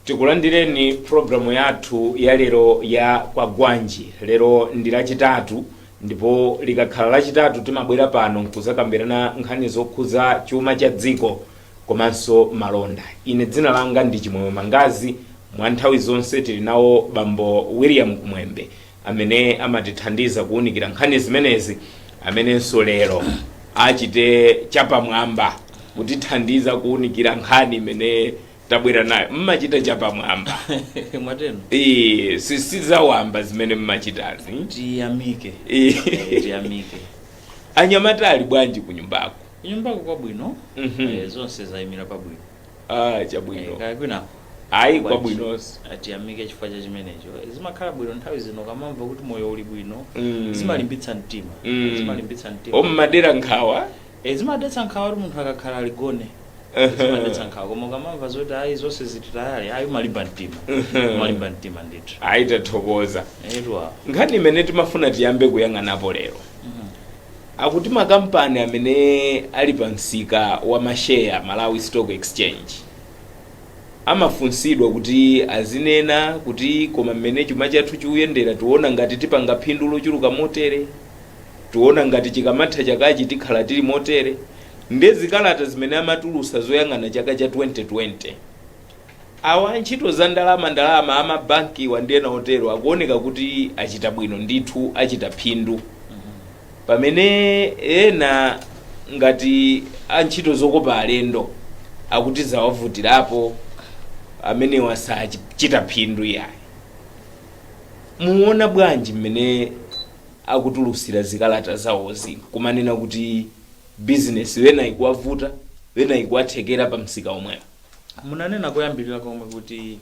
tikulandireni programu yathu ya lero ya kwagwanji lero ndi lachitatu ndipo likakhala lachitatu timabwera pano nkuzakambirana nkhani zokhuza chuma cha dziko komanso malonda ine dzina langa ndi chimwemwe mangazi mwa nthawi zonse tili nawo bambo william kumwembe amene amatithandiza kuwunikira nkhani zimenezi amenenso lero achite chapamwamba kutithandiza kuwunikira nkhani imene tabwera nayo mmachita chapamwamba mwatero Eh, si- sizawamba zimene mmachitazi tiyamike Eh. Eh, tiyamike anyamata ali bwanji kunyumbako kunyumbako kwabwino Mhm. eh, zonse zayimira pabwino ah Eh, chabwino kaya kwina ayi Bwanji. kwabwinonso atiyamike chifukwa cha chimenecho zimakhala bwino nthawi zino ukamamva kuti moyo uli bwino Mm. zimalimbitsa mtima Mm. zimalimbitsa mtima ommadera nkhawa Eh, zimadetsa nkhawa kuti munthu akakhala aligone zimadetsa nkhawa koma ukamamva zoti ayi zonse zili tayali ayi umalimba mtima Mhm. umalimba mtima ndithu ayi tathokoza etu nkhani imene timafuna tiyambe kuyang'anapo lero Akuti makampani amene ali pa msika wa masheya, Malawi Stock Exchange, amafunsidwa kuti azinena kuti koma mmene chuma chathu chiuyendera tiona ngati tipanga phindu lochuluka motere, tiona ngati chikamatha chakachi tikhala tili motere, nde zikalata zimene amatulusa zoyang'ana chaka cha 2020. Awa antchito za ndalama ndalama a mabankiwa ndi ena otero akuoneka kuti achita bwino ndithu, achita phindu. Pamene ena ngati antchito zokopa alendo akuti zawavutirapo, amenewa sachita phindu iyayi. Muona bwanji mmene akutulusira zikalata zawozi nkumanena kuti business ena ikuwavuta ena ikuwathekera pamsika omwewo? munanena koyambirira komwe kuti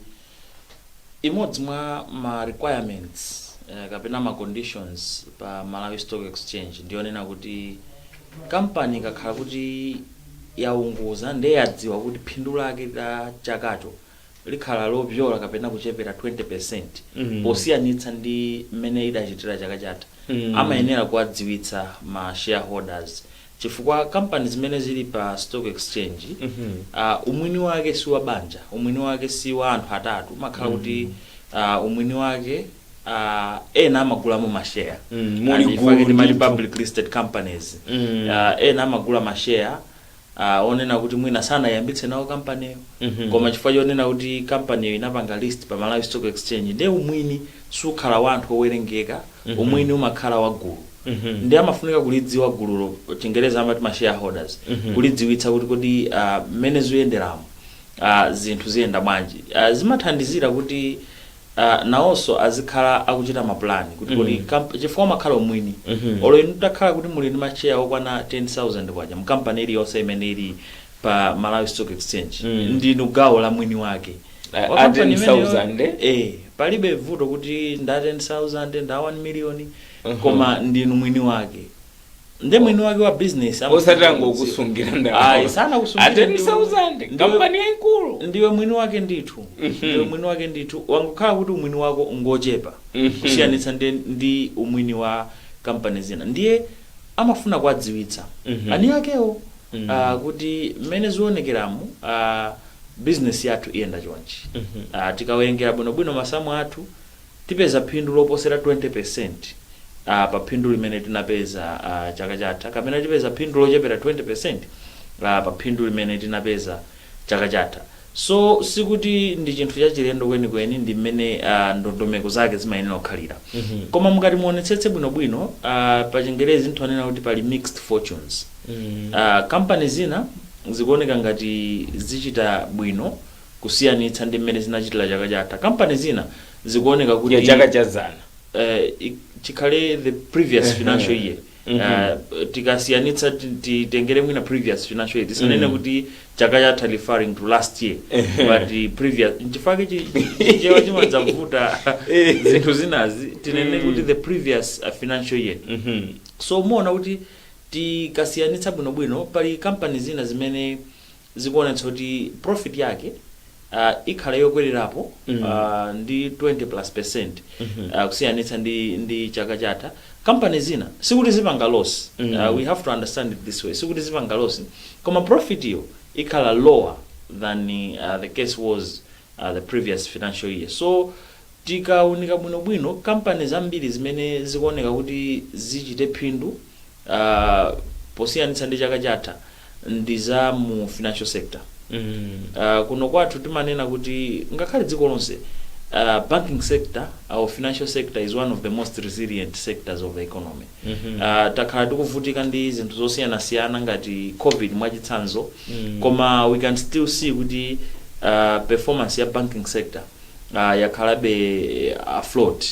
imodzi mwa ma requirements eh, kapena ma conditions pa Malawi Stock Exchange ndiyonena kuti kampani ikakhala kuti yaunguza ndiye yadziwa kuti phindu lake la chakacho likhala lopyola kapena kuchepera 20% Mhm. posiyanitsa ndi mmene idachitira chaka chatha Mm. amayenera kuwadziwitsa ma shareholders Chifukwa kampani zimene zili pa stock exchange umwini wake si wa banja, umwini wake si wa anthu atatu, umakhala kuti umwini wake ena amagulamo ma share and chifukwa timati public listed companies ena amagula ma share onena kuti mwina sanayiyambitse nawo kampaniyo koma chifukwa chonena kuti kampaniyo inapanga list pa Malawi Stock Exchange ndiye umwini sukhala wa anthu owerengeka, umwini umakhala wa gulu. ndiye amafunika kulidziwa gululo chingerezi amati ma shareholders kulidziwitsa kuti kodi ah, mmene zikuyenderamo ah, zinthu ziyenda bwanji Ah, zimathandizira kuti ah, nawonso azikhala akuchita mapulani kuti kodi kamp- chifukwa umakhala umwini olo inu atakhala kuti muli ndi masheya okwana 10000 kwacha mkampani iliyonse imene ili pa malawi stock exchange ndinu gawo la mwini wake Ah, Wa ah, company imeneyo- 10,000, eh? eh palibe vuto kuti nda 10000 nda 1 million koma ndinu mwini wake nde mwini wake wa business ama- osati angokusungira Ayi, ndalama sanakusungire ateni ndiwe- 10,000 nde ndiwe- kampani yaikulu ndiwe mwini wake ndithu ndiwe mwini wake ndithu wangokhala kuti umwini wako ngochepa Mhm. kusiyanitsa ndi, ndi umwini wa kampani zina ndiye amafuna kuwadziwitsa Mhm. eni akewo Mhm. ah, kuti mmene zionekeramu ah, business yathu iyenda chonchi Mhm. Ah, tikawerengera bwinobwino masamu athu Tipeza phindu loposera 20% pa phindu limene tinapeza chaka chatha kapena tipeza phindu lochepera 20% pa phindu limene tinapeza chaka chatha. So sikuti ndi chinthu chachilendo kwenikweni ndi mmene ndondomeko zake zimayenera kukhalira. Koma mukati muonetsetse bwinobwino, pa chingerezi nthonena kuti pali mixed fortunes. Kampani zina zikuoneka ngati zichita bwino. kusiyanitsa ndi mmene zinachitira chaka chatha. Kampani zina zikuoneka kuti. ya chaka cha dzana. eh, i- chikhale the previous financial year Eh, tikasiyanitsa ti- titengere mwina previous financial year tisanene kuti chaka chatha referring to last year but eh, previous nchifake chichewa chimadzavuta Eh. zinthu zinazi tinene kuti the previous uh, financial year Mhm. so muona kuti tikasiyanitsa bwinobwino pali kampani zina zimene zikuonetsa kuti profit yake ah, ikhala yokwererapo ah, ndi 20 plus percent ah, kusiyanitsa ndi, ndi chaka chatha kampani zina sikuti zipanga loss Ah, we have to understand it this way sikuti zipanga loss koma profit yo ikhala lower than ah, the case was ah, the previous financial year so Tikaunika bwinobwino kampani zambiri zimene zikuoneka kuti zichite phindu posiyanitsa ndi chaka chatha ndi za mu financial sector. Kuno kwathu timanena kuti ngakhale dziko lonse banking sector or financial sector is one of the most resilient sectors of the economy. Takhala tikuvutika ndi zinthu zosiyanasiyana ngati Covid mwachitsanzo koma we can still see kuti performance ya banking sector. ah, yakhalabe afloat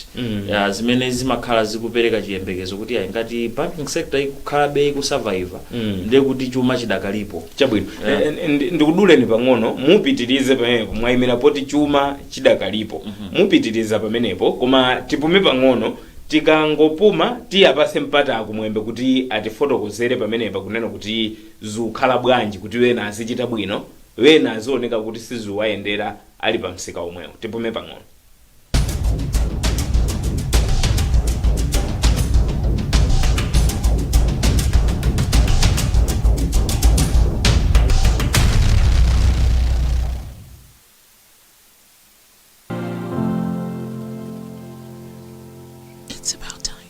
Ah, zimene zimakhala zikupereka chiyembekezo kuti ayi ngati banking sector ikukhalabe ikusurviva ndiye kuti chuma chidakalipo chabwino Yeah. Eh, eh, ndi- ndikuduleni pang'ono mupitirize pamenepo mwayimira poti chuma chidakalipo mupitiriza pamenepo koma tipume pang'ono tikangopuma tiyapase mpata a Kumwembe kuti atifotokozere pamenepa kunena kuti zikukhala bwanji kuti wena azichita bwino wena azioneka kuti sizikuwayendera ali pa msika omwewu tipume pang'ono It's about time.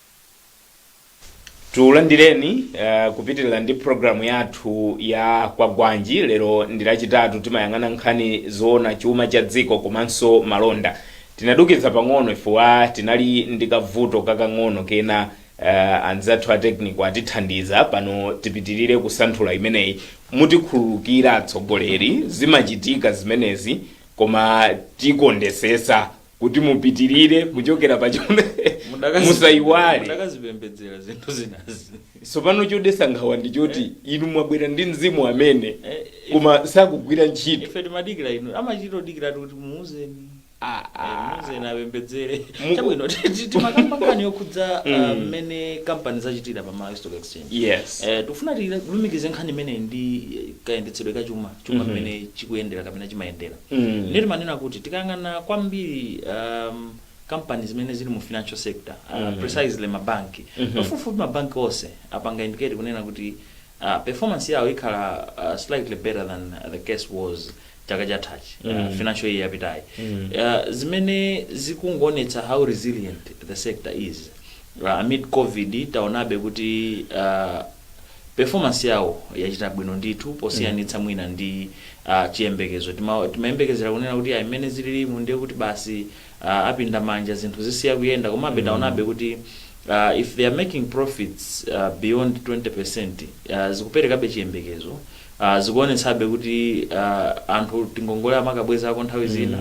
tulandireni uh, kupitirira ndi programu yathu ya kwagwanji lero ndi lachitatu timayang'ana nkhani zoona chuma cha dziko komanso malonda tinadukiza pang'ono chifukwa tinali ndi kavuto kakang'ono kena uh, anzathu a technical atithandiza pano tipitirire kusanthula imeneyi mutikhululukira atsogoleri zimachitika zimenezi koma tikondetsetsa kuti mupitirire kuchokera pachona Mudakazi- musaiwale mudakazipembedzera zinthu zinazi tsopano chodetsa nkhawa ndi choti inu mwabwera ndi mzimu amene Eh, koma sakugwira ntchito ife timadikira inu amachitodikira kuti muuzeni Ah, Eh, ah. muuzeni apembedzere Mu- chabwino ti- ti- timakamba nkhani yokhudza Mm. ah, mmene kampani zachitira pa Malawi stock exchange yes Eh, tikufuna tilumikize nkhani imeneyi ndi eh, kayendetsedwe kachuma chuma Mhm. mmene chikuyendera kapena chimayendera Mm. ndiye timanena kuti tikayang'ana kwambiri um, kampani zimene zili mu financial sector uh, Mm. precisely mabanki Mhm. pafupifupi mabanki onse apanga indicate kunena kuti uh, performance yawo ikhala uh, slightly better than uh, the case was chaka chathachi uh, Mm. financial year yapitayi Mm. uh, zimene zikungoonetsa how resilient the sector is uh, amid covid taonabe kuti uh, performance yawo yachita bwino ndithu posiyanitsa mwina ndi ah, chiyembekezo Tima- timayembekezera kunena kuti ayi mmene zililimu ndiye kuti basi ah, apinda manja zinthu zisiya kuyenda komabe taonabe kuti ah, if they are making profits ah, beyond 20% ah, zikuperekabe chiyembekezo ah, zikuonetsabe kuti ah, anthu tingongole amakabwezako nthawi zina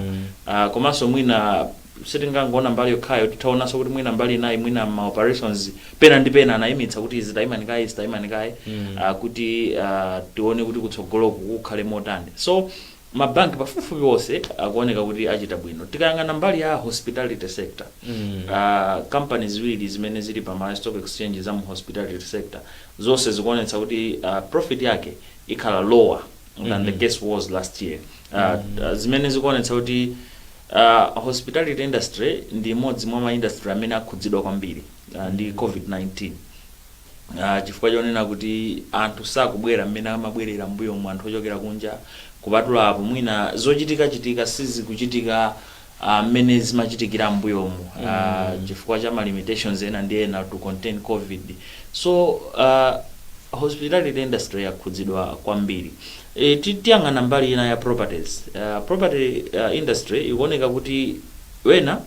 Ah, komanso mwina Sitingangoona mbali yokhayo, titaonanso kuti mwina mbali inayi, mwina m'ma operations pena ndi pena anaimitsa kuti izi taimani kaye, izi taimani kaye ah, kuti ah, tione kuti kutsogoloku kukhale motani. So ma bank pafupifupi onse akuoneka kuti achita bwino. Tikayang'ana mbali ya hospitality sector, ah, kampani ziwiri zimene zili pa Malawi Stock Exchange za mu hospitality sector, zonse zikuonetsa kuti ah, profit yake ikhala lower than the case was last year. Ah, ah, zimene zikuonetsa kuti A hospitality industry ndi imodzi mwa ma industry amene akhudzidwa kwambiri ndi COVID-19 chifukwa chonena kuti anthu sakubwera mmene amabwerera mmbuyomu anthu ochokera kunja. Kupatula apo, mwina zochitikachitika sizikuchitika mmene zimachitikira mmbuyomu chifukwa cha ma limitations ena ndi ena to contain Covid. So, hospitality industry yakhudzidwa kwambiri. E, ti, tiyang'ane mbali ina ya properties. Uh, property uh, industry ikuoneka kuti wena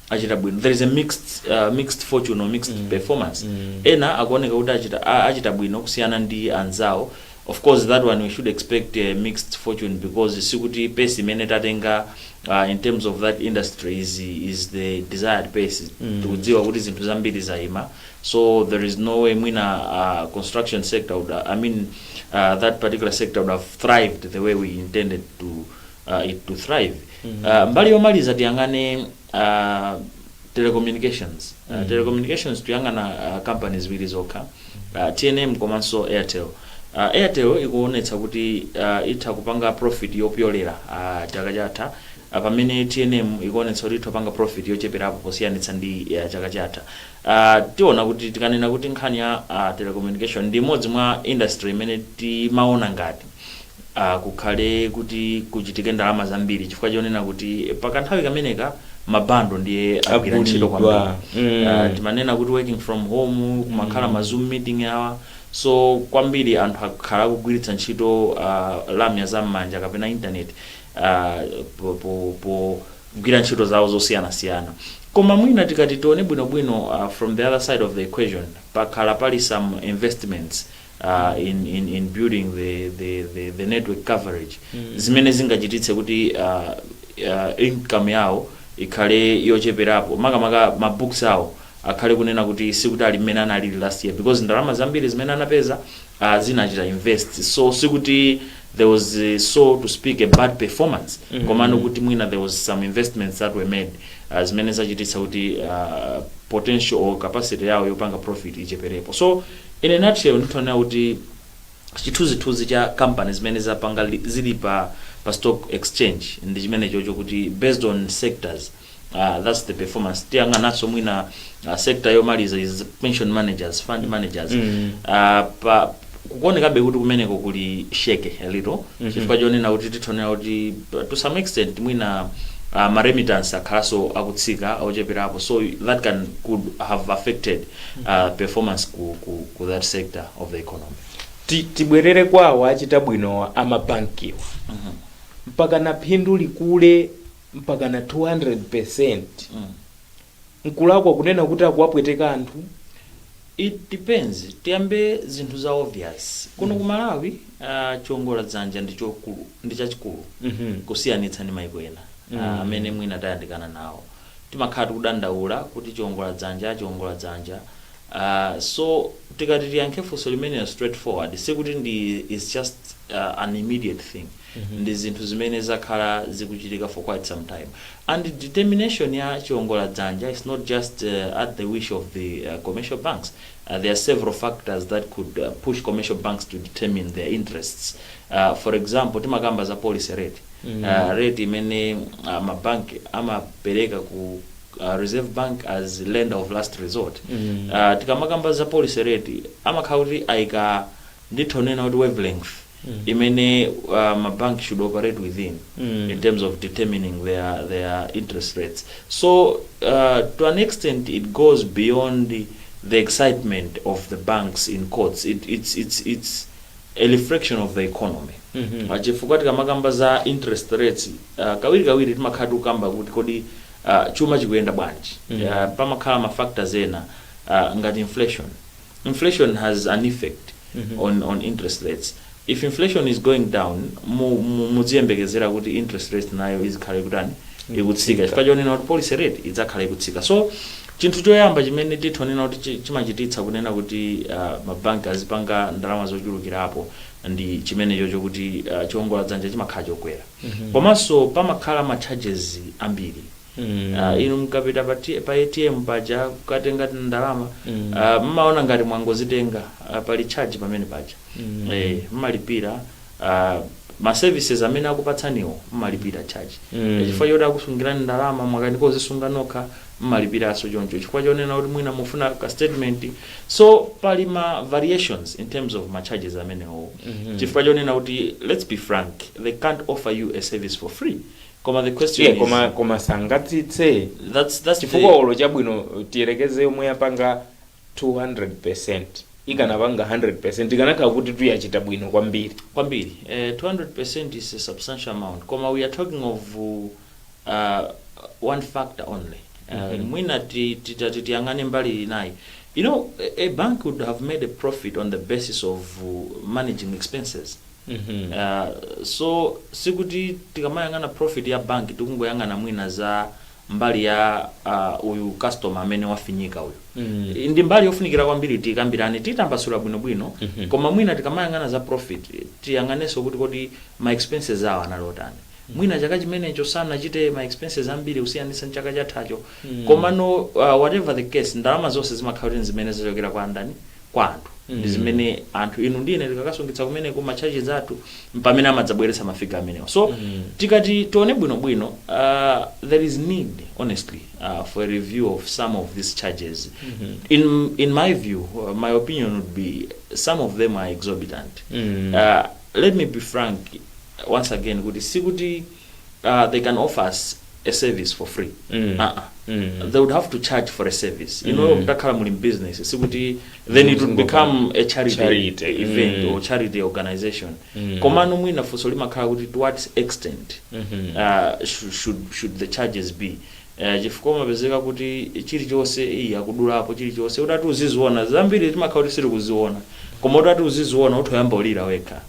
achita bwino. There is a mixed, uh, mixed fortune or mixed mm. performance. Mm. Ena akuoneka kuti achita, a- achita bwino kusiyana ndi anzawo. Of course that one we should expect a mixed fortune because sikuti pace imene tatenga uh, in terms of that industry is, is the desired pace. Mm. Tikudziwa kuti zinthu zambiri zaima so there is no way mwina uh, construction sector would, I mean uh, that particular sector would have thrived the way we intended to uh, it to thrive uh, mbali yomaliza tiyang'ane uh, telecommunications uh, telecommunications tuyang'ana uh, companies ziwiri zokha uh, tnm komanso airtel uh, airtel ikuonetsa kuti uh, itha kupanga profit yopyolera uh, chaka chatha uh, pamene tnm ikuonetsa kuti itha kupanga profit yocheperapo posiyanitsa ndi uh, chaka chatha a Tiona kuti tikanena kuti nkhani ya a telecommunication ndi imodzi mwa industry imene timaona ngati a kukhale kuti kuchitike ndalama zambiri chifukwa chonena kuti pa kanthawi kameneka ma bundle ndiye agwira ntchito Agulidwa. kwambiri. A, Mm. timanena kuti working from home kumakhala ma zoom meeting awa so kwambiri anthu akhala akugwiritsa ntchito uh, lamya za m'manja kapena internet uh, po, po, po pogwira ntchito zawo zosiyanasiyana. Koma mwina tikati tione bwino bwino from the other side of the equation pakhala pali some investments in in in building the the the, the network coverage zimene zingachititse kuti uh, uh, income yawo ikhale yocheperapo makamaka ma books awo akhale kunena kuti sikuti ali mmene analili last year because ndalama zambiri zimene anapeza uh, anachita invest so sikuti there was uh, so to speak a bad performance mm -hmm. komano kuti mwina there was some investments that were made uh, zimene zachititsa kuti uh, potential or capacity yawo yopanga profit icheperepo so in a nutshell nditha kunena kuti chithunzithunzi cha companies zimene zapanga li- zili pa pa stock exchange ndi chimenecho chokuti based on sectors Ah, that's the performance tiyang'ananso mwina uh, sector yomaliza is pension managers fund managers Mm. Ah, pa kukuonekabe kuti kumeneko kuli shaky a little Mhm. chifukwa chonena kuti titha kuwona kuti uh, to some extent mwina uh, maremittance akhalanso akutsika ocheperapo so that can could have affected uh, performance ku, ku, ku that sector of the economy Ti- tibwerere kwa awa achita bwino amabankiwa Mhm. mpaka na phindu likule mpakana 200%. Nkulakwa kunena kuti akuwapweteka anthu? It depends, tiyambe zinthu za obvious. Kuno ku Malawi ah, chiongola dzanja ndi chokulu ndi chachikulu kusiyanitsa ndi maiko ena ah, amene mwina tayandikana nawo. Timakhala tikudandaula kuti chiongola dzanja chiongola dzanja. Ah, so tikati tiyankhe funso limenelo straight forward sikuti ndi it's just ah, an immediate thing. ndi zinthu zimene zakhala zikuchitika for quite some time and the determination ya chiongola dzanja is not just uh, at the wish of the uh, commercial banks uh, there are several factors that could uh, push commercial banks to determine their interests uh, for example timakamba za policy rate mm. uh, rate imene uh, mabank amapereka ku uh, reserve bank as lender of last resort mm. uh, tikamakamba za policy rate amakhala kuti ayika nditha kunena kuti wavelength imene uh, ma bank should operate within in terms of determining their, their interest rates so uh, to an extent it goes beyond the excitement of the banks in quotes it, it's, it's, it's a reflection of the economy Ah, chifukwa tikamakamba za interest rates ah, kawirikawiri timakhala tikukamba kuti kodi ah, chuma chikuyenda bwanji Ah, pamakhala ma factors ena ah, ngati inflation Inflation has an effect on on interest rates, if inflation is going down mu mu muziyembekezera kuti interest rate nayo izikhala ikutani ikutsika chifukwa chonena kuti policy rate idzakhala ikutsika so chinthu choyamba chimene titha kunena kuti chi- chimachititsa kunena kuti uh, mabanki azipanga ndalama zochulukirapo ndi chimenecho chokuti uh, chiwongola dzanja chimakhala chokwera komanso pamakhala ma charges ambiri mm ah inu mkapita pa T pa ATM paja kukatenga tindalama mm ah mmaona ngati mwangozitenga ah, pali charge pamenepaja mm eh mmalipira ah ma services amene akupatsaniwo mmalipira charge Mm. chifukwa choti akusungirani ndalama mwakanika kuzisunga nokha mmalipiranso choncho chifukwa chonena kuti mwina mufuna ka statement so pali ma variations in terms of ma charges amenewo Mhm. chifukwa chonena kuti let's be frank they can't offer you a service for free Koma the question Yeah, is. koma koma sangatsitse That's that's chifukwa the. olo chabwino tiyerekeze yomwe yapanga 200% ikanapanga 100% ikanakhala kuti tu yachita bwino kwambiri Kwambiri. Eh, 200% is a substantial amount. Koma we are talking of uh, one factor only. Uh, mwina ti- titati tiyang'ane mbali inayi. You know, a, a bank would have made a profit on the basis of uh, managing expenses. Uh, so sikuti tikamayang'ana profit ya bank tikungoyang'ana mwina za mbali ya uh, uyu customer amene wafinyika uyu mm. ndi mbali yofunikira kwambiri tikambirane titambasula bwinobwino mm -hmm. koma mwina tikamayang'ana za profit tiyang'anenso kuti kodi ma expenses awo anali otani mwina chaka chimenecho sanachite ma expenses ambiri kusiyanitsa ndi chaka chathacho mm. komano uh, whatever the case ndalama zonse zimakhala kuti zimene zochokera kwa ndani kwa anthu ndi zimene anthu inu ndi ine tikakasungitsa kumeneko ma charges athu mpamene amadzabweretsa ma figure amenewa so tikati tione bwinobwino uh, there is need honestly uh, for a review of some of these charges in, in my view uh, my opinion would be some of them are exorbitant Mm. uh, let me be frank once again kuti sikuti uh, they can offer us a service for free Mm. uh -uh. Mm. they would have to charge for a service you know Mm. mtakhala muli business sikuti then it would Mzingo become a charity, Charity. event Mm. or charity organization Mm. komano mwina funso limakhala kuti to what extent Mhm. uh, should, should, should the charges be Uh, chifukwa umapezeka kuti chilichonse iyi akudulapo chilichonse utati uziziona zambiri timakhala kuti sitikuziona koma utati uziziona utha kuyamba kulira wekha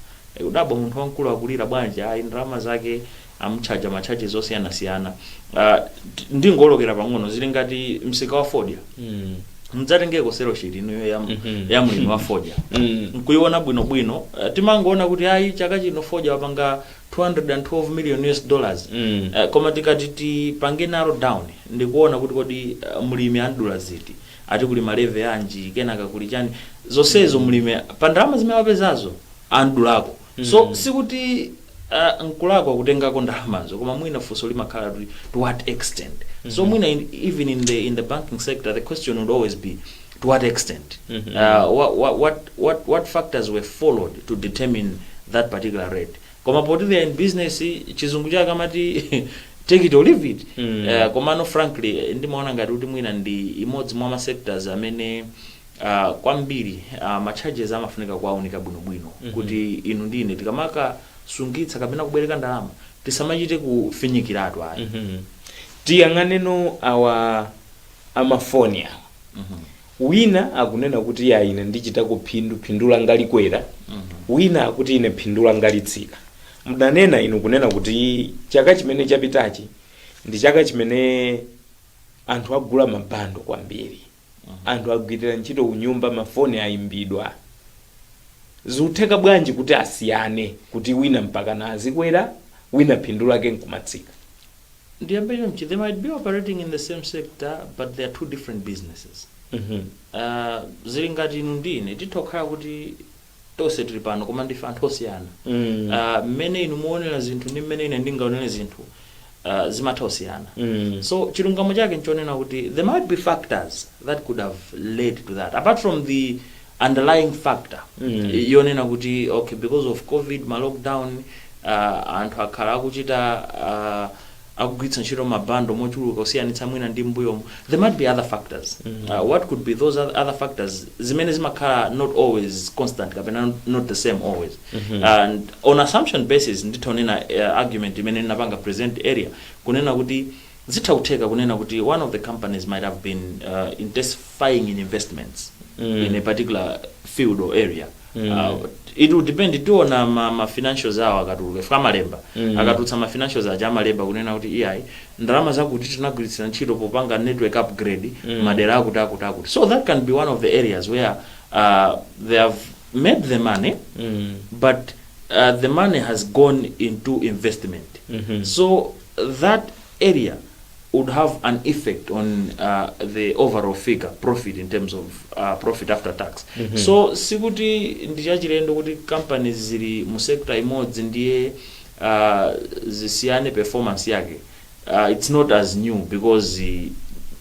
Kudabwa munthu wamkulu akulira bwanji ayi ndalama zake amutchaja ma charges osiyanasiyana ah, ti- ndingolowera pang'ono zili ngati msika wa fodya Mm. mudzatengeko sales sheet inuyo ya, Mhm. ya mlimi wa fodya Mm. nkuiona bwinobwino Eh, timangoona kuti ayi chaka chino fodya wapanga 212 million US dollars Mm. Eh, koma tikati tipange narrow down ndikuona kuti kodi eh, mlimi andula ziti ati kuli ma levy anji kenaka kuli chani zonsezo mlimi pa ndalama zimene wapezazo amudulako so sikuti uh, nkulakwa kutengako ndalamazo koma mwina funso limakhala kuti to what extent so mwina in, even in the, in the banking sector the question would always be to what extent uh, what, what, what, what, what factors were followed to determine that particular rate koma poti they are in business chizungu chake amati take it or leave it uh, komano frankly eh, ndimaona ngati kuti mwina ndi imodzi mwa ma sectors amene uh, kwambiri uh, ma charges amafunika kuwaunika bwinobwino mm -hmm. kuti inu ndi ine tikamakasungitsa kapena kubwereka ndalama tisamachite kufinyikiratu ayi mm -hmm. tiyang'aneno awa amafoni awa mm -hmm. wina akunena kuti ya ine ndichita ku- phindu langa likwera mm -hmm. wina akuti ine phindu langa litsika munanena inu kunena kuti chaka chimene chapitachi ndi chaka chimene anthu agula mabando kwambiri anthu agwirira ntchito kunyumba mafoni ayimbidwa zikutheka bwanji kuti asiyane kuti wina mpakana azikwera wina phindu lake nkumatsika? Ndiyambe chonchi, they might be operating in the same sector but they are two different businesses. Uh, zili ngati inu ndi ine titha kukhala kuti tonse tili pano koma ndife anthu osiyana Mm. Ah, mmene inu mumaonera zinthu ndi mmene ine ndingaonere zinthu ah, zimatha kusiyana Mm. so chilungamo chake nchonena kuti there might be factors that could have led to that apart from the underlying factor Mm. yonena kuti okay because of covid ma lockdown uh, anthu akhala akuchita uh, akugwiritsa ntchito ma bundle mochuluka kusiyanitsa mwina ndi m'mbuyomu, there might be other factors. What could be those oth- other factors zimene zimakhala not always constant kapena not, not the same always. And on assumption basis nditha kunena uh, argument imene ndinapanga present earlier kunena kuti zitha kutheka kunena kuti one of the companies might have been uh, intensifying in investments in a particular field or area. Mm. Ah, it will depend tiona ma, ma financials awo akatuluka paja amalemba Mm. akatulutsa ma financials aja amalemba kunena kuti iyayi ndalama zakuti tinagwiritsira ntchito popanga network upgrade Mm. madera akuti akuti akuti so that can be one of the areas where uh, they have made the money Mm. but uh, the money has gone into investment Mhm. so that area would have an effect on the overall figure profit in terms of profit after tax so sikuti ndi chachilendo kuti companies zili mu sector imodzi ndiye zisiyane performance yake uh, it's not as new because uh,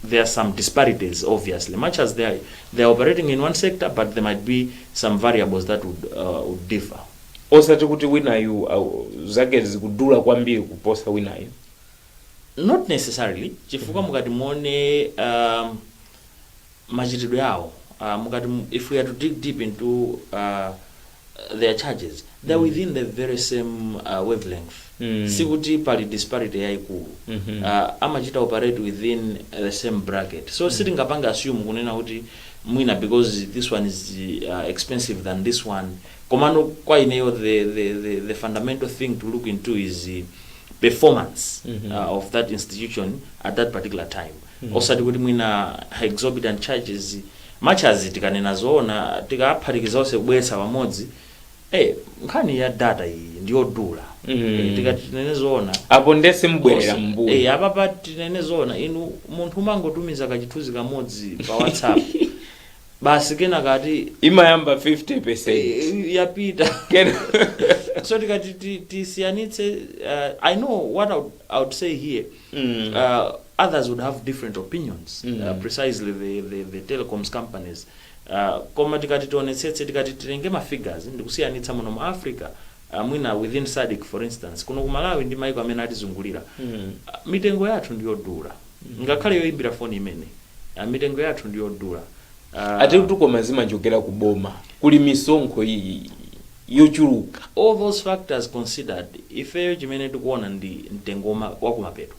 there are some disparities obviously much as they are, they are operating in one sector but there might be some variables that would, uh, would differ osati kuti winayu au- zake zikudula kwambiri kuposa winayu not necessarily chifukwa mukati muone um, machitidwe awo uh, mukati mu- if we are to dig deep into uh, their charges they're within the very same uh, wavelength Mm. sikuti pali disparity yayikulu Mhm. uh, amachita operate within the same bracket so sitingapange assume kunena kuti mwina because this one is uh, expensive than this one Komano kwa ineyo the, the, the, the fundamental thing to look into is uh, performance mm -hmm. uh, of that institution at that particular time mm -hmm. osati kuti mwina exorbitant charges much as tikanena zoona tikaphatikiza onse kubweretsa pamodzi eh, nkhani ya data iyi ndiyodula mm -hmm. tikati tinene zoona apo nde simbwerera mbuyo eh, apapa tinene zoona inu munthu umangotumiza kachithunzi kamodzi pa whatsapp basi kenaka akuti imayamba 50 eh, yapita Kena- so tikati ti- tisiyanitse uh, i know what I would, I would say here Mm. uh, others would have different opinions Mm. uh, precisely the, the, the telecoms companies uh, koma tikati tionetsetse tikati titenge ma figures ndikusiyanitsa muno mu africa uh, mwina within sadc for instance kuno ku malawi ndi maiko amene atizungulira Mm. uh, mitengo yathu ndiyodula Ngakhale yoimbira phone imene mitengo yathu ndiyodula. Ati kuti koma zimachokera ku boma kuli misonkho yochuluka. All those factors considered ifeyo chimene tikuona ndi mtengo wakumapeto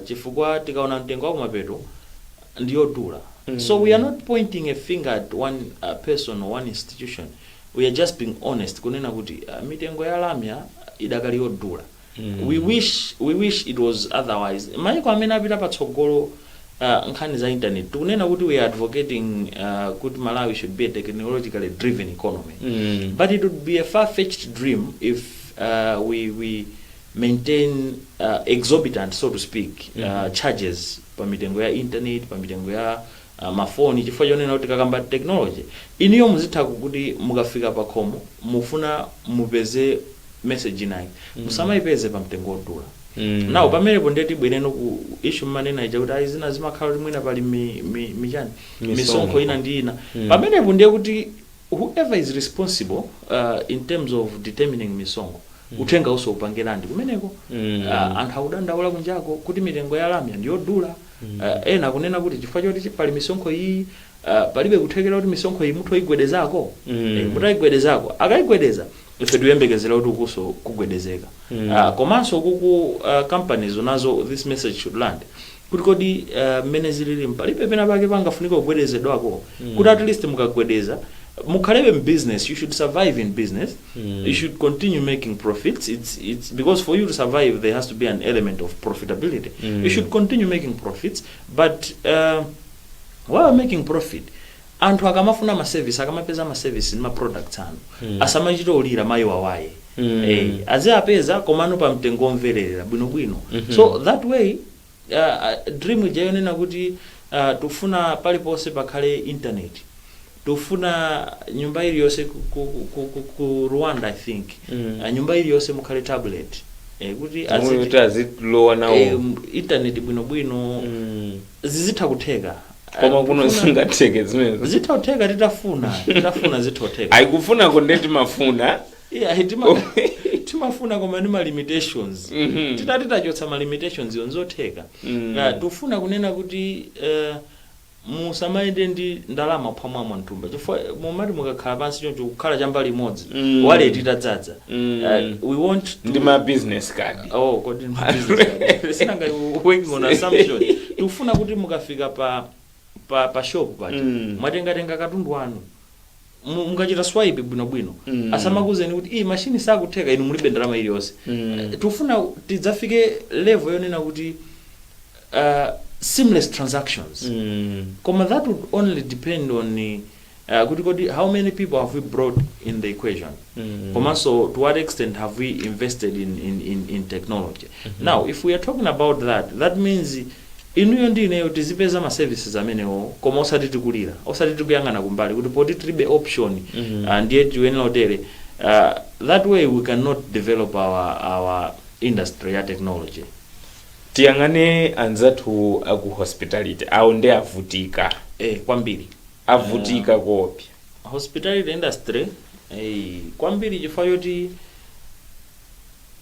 chifukwa tikaona mtengo wakumapeto ndiyodula so we are not pointing a finger at one person or one institution we are just being honest kunena kuti mitengo ya lamya idakali yodula. we wish we wish it was otherwise maiko amene apita patsogolo uh, nkhani za internet tikunena kuti we are advocating uh, kuti malawi should be a technologically driven economy Mm. but it would be a far-fetched dream if uh, we, we maintain uh, exorbitant so to speak uh, charges pa mitengo ya internet pa mitengo ya ma phone chifukwa chonena kuti tikakamba technology inuyo muzitha kuti mukafika pakhomo mufuna mupeze message inayake musamaipeze pa mtengo odula now pamenepo ndiye tibwereno ku issue mmanena ija kuti ayi zina zimakhala kuti mwina pali mi, mi, mi chani Misonkho. misonkho ina ndi ina pamenepo ndiye kuti whoever is responsible uh, in terms of determining misonkho uthengawu so upange land kumeneko Mm. uh, anthu akudandaula kunjako kuti mitengo ya lamya ndiyodula Ah, ena akunena kuti chifukwa choti chi- pali misonkho iyi ah, palibe kuthekera kuti misonkho iyi mutha kuyigwedezako Mm. Eh, mutayigwedezako akayigwedeza ife tikuyembekezera kuti ukuso kugwedezeka Mm. Ah, komanso ku ah, companies nazo this message should land kuti kodi ah, mmene zilili palibe pena pake pangafunika kugwedezedwako kuti at least mukagwedeza mukhalebe in business you should survive in business You should continue making profits. It's it's because for you to survive there has to be an element of profitability. You should continue making profits, but uh, while making profit anthu akamafuna maservice akamapeza maservice ndi maproducts anu asamachite kulira mayi wawayi eh, aziapeza komano pa mtengo omvererera bwinobwino so that way Dream ija yonena kuti tikufuna paliponse pakhale internet, tikufuna nyumba iliyonse ku Rwanda I think nyumba iliyonse mukhale tablet kuti azilowa nawo internet bwinobwino zizitha kutheka. Koma kuno zingatheke zimenezo? Zitha kutheka titafuna, titafuna zitha kutheka. Ayi kufunako ndiye timafuna. Yeah, tima- timafuna koma ndi ma limitations Mhm. titati tachotsa ma limitations yo nzotheka Mm. Ah, tufuna kunena kuti eh, musamayende ndi ndalama phwamwamwa mthumba chifukwa mumati mukakhala pansi choncho kukhala chambali imodzi Mm. waleti itadzadza Mm. Ah, we want to ndi ma business card oh kodi ndi business card. sinanga we are working on assumption tikufuna kuti mukafika pa pa pa shop paja Mm. mwatengatenga katundu wanu mu- mukachita swipe bwinobwino Mm. asamakuuzeni kuti iyi mashini sakutheka inu mulibe ndalama iliyonse Mm. Eh, tikufuna tidzafike level yonena kuti uh, seamless transactions Mm. koma that would only depend on uh, kuti kodi how many people have we brought in the equation Mm. komanso to what extent have we invested in, in, in, in technology now if we are talking about that that means Inuyo ndi ineyo tizipeza ma services amenewo koma osati tikulira, osati tikuyang'ana kumbali kuti poti tilibe option ah ndiye tiyenera kutere ah that way we can not develop our our industry ya technology. Tiyang'ane anzathu aku hospitality, awo nde avutika. Eh kwambiri. Avutika koopsa. Hospitality industry eyi kwambiri chifukwa choti.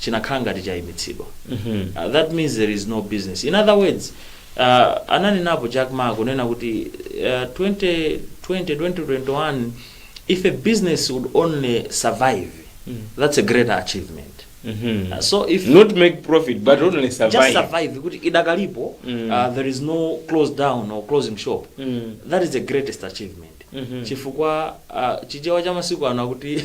chinakhala ngati chaimitsidwa uh, that means there is no business in other words uh, ananenapo jack ma kunena kuti uh, 2020 2021 if a business would only survive that's a greater achievement Uh, so if not make profit but only just survive survive kuti idakalipo uh, there is no close down or closing shop that is the greatest achievement chifukwa uh, chichewa cha masiku ano akuti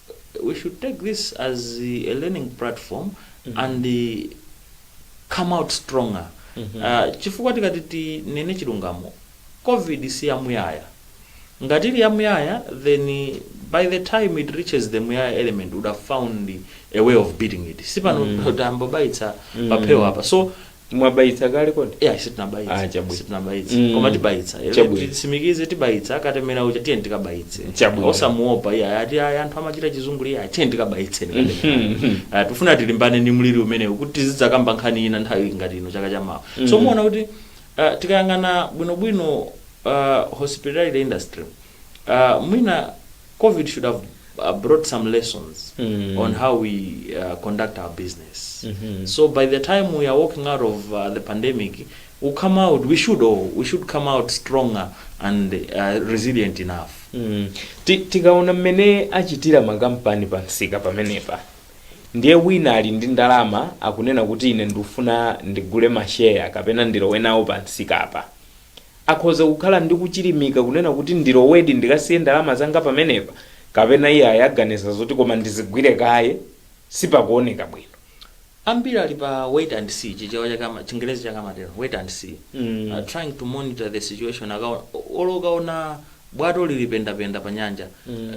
we should take this as a learning platform and come out stronger uh, chifukwa tikati tinene chilungamo covid si yamuyaya ngati ili yamuyaya then by the time it reaches the muyaya element would have found a way of beating it sipano mm. tambobaitsa paphewa apa so mwabayitsa kale kodi ya Ah, sitinabayitsa chabwino. sitinabayitsa Mm. koma tibayitsa Eh, Chabwino. tisimikize tibayitsa katemera uja tiyeni tikabayitse Chabwino. osamuopa iyayi ati ayi anthu amachita chizungulire tiyeni tikabayitse Mhm. Ah, tifuna tilimbane ndi mliri umenewu kuti tizidzakamba nkhani ina nthawi ngati ino chaka cha mawa so muona kuti ah, tikayang'ana bwinobwino ah, hospitality industry Mwina covid should have brought some lessons on how we conduct our business so by the time we are walking out of the pandemic we come out we should all we should come out stronger and resilient enough. Tikaona mmene achitira makampani pa msika pamenepa ndiye wina ali ndi ndalama akunena kuti ine ndikufuna ndigule masheya kapena ndilowe nawo pa msikapa Akhoza kukhala ndi kuchilimika kunena kuti ndilowedi ndikasiye ndalama zanga pamenepa kapena iyayi aganiza zoti koma ndizigwire kaye sipakuoneka bwino. Ambiri ali pa wait and see, Chichewa chake amati, Chingerezi chake amatero, wait and see, are trying to monitor the situation akaona, olo ukaona bwato lili pendapenda pa nyanja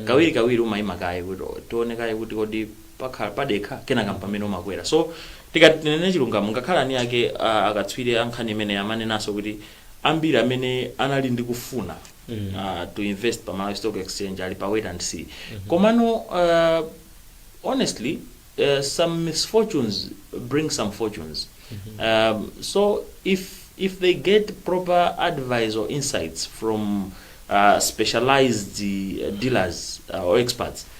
kawirikawiri umaima kaye kuti tione kaye kuti kodi. pakhala padekha kenaka m'pamene umakwera so tikati tinene chilungamo ngakhale eniake akatswiri a nkhani imeneyi amanenanso kuti ambiri amene anali ndi kufuna uh, to invest pa malawi stock exchange ali pa wait and see komano uh, honestly uh, some misfortunes bring some fortunes um, so if if they get proper advice or insights from uh, specialized uh, dealers uh, or experts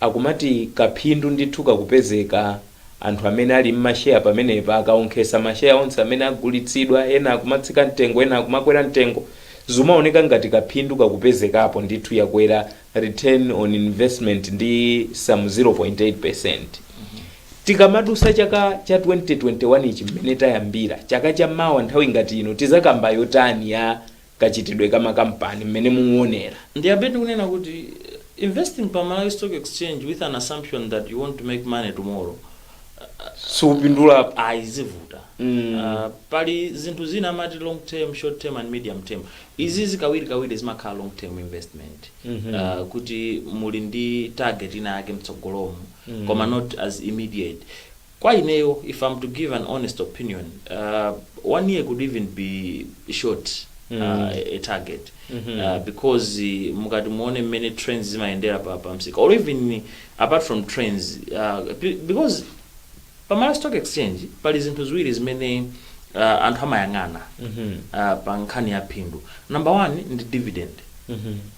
Akumati kaphindu ndithu kakupezeka. Anthu amene ali m'masheya pamenepa akawonkhetsa masheya onse amene agulitsidwa ena akumatsika mtengo ena akumakwera mtengo zikumaoneka ngati kaphindu kakupezekapo ndithu yakwera return on investment ndi some 0.8%. Tikamadutsa chaka cha 2021 ichi mmene tayambira chaka cha mawa nthawi ngati ino tizakamba yotani ya kachitidwe ka makampani mmene muwonera. Ndiyambe ndikunena kuti investing pa Malawi Stock Exchange with an assumption that you want to make money tomorrow siupindulapo ayi zivuta Mm. uh, pali zinthu zina amati long term short term and medium term izizi kawiri kawiri zimakhala long term investment Mhm. uh, kuti muli ndi target ina yake mtsogolomo koma not as immediate Kwa ineyo if am to give an honest opinion uh, one year could even be short uh, a target uh, because uh, mukati muone m'mene trends zimayendera pa, pa msika or even apart from trends uh, be- because pa Malawi stock exchange pali zinthu ziwiri zimene uh, anthu amayang'ana uh, pa nkhani ya phindu number one ndi dividend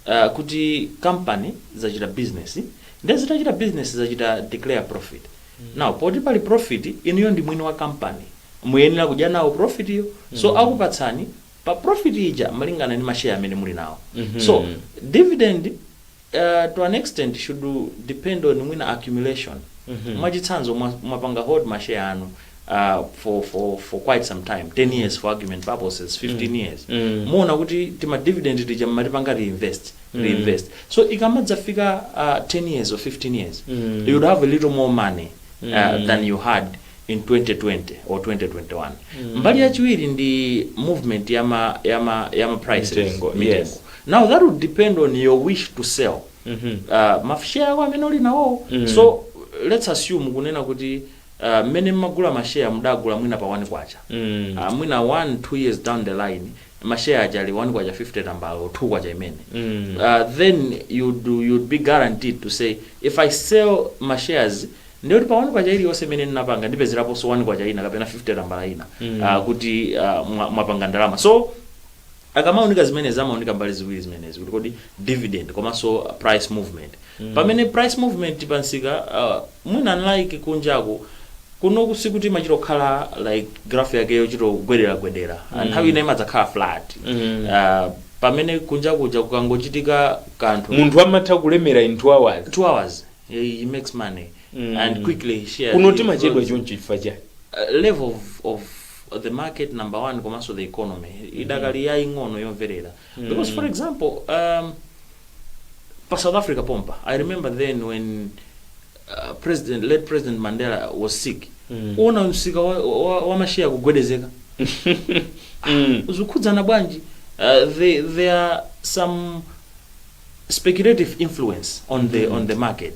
uh, kuti company zachita business nde zitachita business zachita declare profit now poti pali profit inuyo ndi mwini wa company muyenera kudya nawo profit iyo so akupatsani pa profit ija malingana ndi ma share amene muli nawo so dividend uh, to an extent should depend on mwina accumulation mwachitsanzo mwa- mwapanga hold ma share anu uh, for, for, for quite some time 10 years for argument purposes 15 years muona kuti tima dividend tija mmatipanga reinvest reinvest so ikamadzafika uh, 10 years or 15 years you would have a little more money uh, than you had in 2020 or 2021 mbali yachiwiri ndi movement ya ma, ya ma, ya ma prices Mitengo, mitengo. yes. now that would depend on your wish to sell uh, mashare ako amene uli nawo so let's assume kunena kuti uh, mmene mmagula mashare mudagula mwina pa 1 kwacha Mm. uh, mwina 1 2 years down the line ma share aja ali 1 kwacha 50 tambala or 2 kwacha imene Mm. uh, then you'd, you'd be guaranteed to say if i sell ma shares ndiye kuti pa 1 kwacha iliyonse imene ndinapanga ndipezeraponso 1 kwacha ina kapena 50 tambala ina Mm. uh, kuti uh, mwa- mwapanga ndalama so akamaunika zimenezi amaunika mbali ziwiri zimenezi kuti kodi dividend komanso price movement pamene price movement pa nsika uh, mwina unlike kunjaku kunoku usikuti imachita kukhala like graph yake yochita kugwedera gwedera mm. nthawi ina imadzakhala flat mm. uh, pamene kunja kuja kukangochitika kanthu munthu amatha kulemera in 2 hours two hours he, he makes money mm. and quickly he shares kuno he timachedwa grows. choncho chifukwa chani uh, level of, of the market number one komanso the economy idakali yaying'ono yomverera because for example um, pa south africa pompa i remember then when uh, president late president mandela was sick Mm. uona msika wa, wa, wa mashare kugwedezeka Mm. zikukhudzana bwanji uh, there, there are some speculative influence on the on the market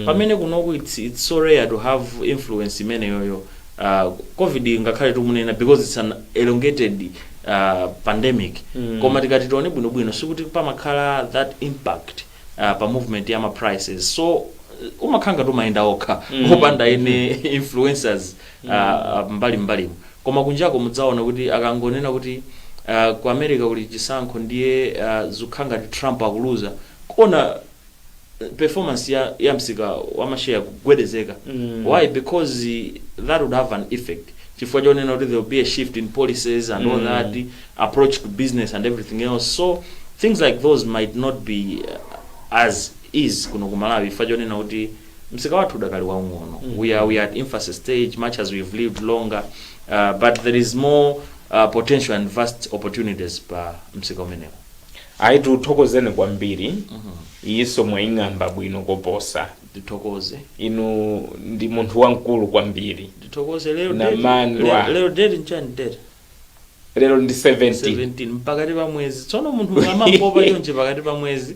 pamene kunoku it's, it's so rare to have influence imeneyoyo uh, covid ngakhale tikumunena because it's an elongated uh, pandemic koma tikati tione bwinobwino sikuti pamakhala that impact uh, pa movement ya ma prices so uh, umakhala ngati umayenda okha opanda ene influencers uh, mbali mbalimu Koma kunjako mudzaona kuti akangonena kuti aah ku America kuli chisankho ndiye aah zukhangati Trump akuluza kuona performance ya ya msika wa ma share kugwedezeka why because that would have an effect chifukwa chonena kuti there will be a shift in policies and all that approach to business and everything else so things like those might not be as is kuno ku Malawi chifukwa chonena kuti Msika wathu udakali waung'ono mm -hmm. we, are, we are at infancy stage much as we've lived longer uh, but there is more uh, potential and vast opportunities pa msika umenewu ayi tikuthokozeni kwambiri mm -hmm. iyinso mwaying'amba bwino koposa ndithokoze inu ndi munthu wamkulu kwambiri ndithokoze lero date- Namandwa. le- lero date nchani date lero ndi 17 17 pakati pa mwezi tsono munthu amapopa chonje pakati pa mwezi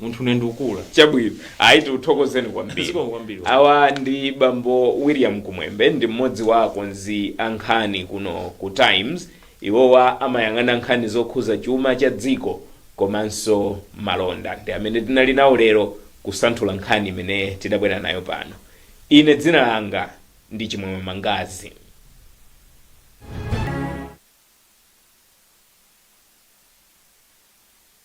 Munthu une ndukula. Chabwino. Ayi tikuthokozeni kwambiri. Zikomo kwambiri. Awa ndi bambo William Kumwembe ndi mmodzi wa akonzi a nkhani kuno ku Times. Iwowa amayang'ana nkhani zokhuza chuma cha dziko komanso malonda. Ndi amene tinali nawo lero kusanthula nkhani imene tidabwera nayo pano. Ine dzina langa ndi Chimwemwe Mangazi.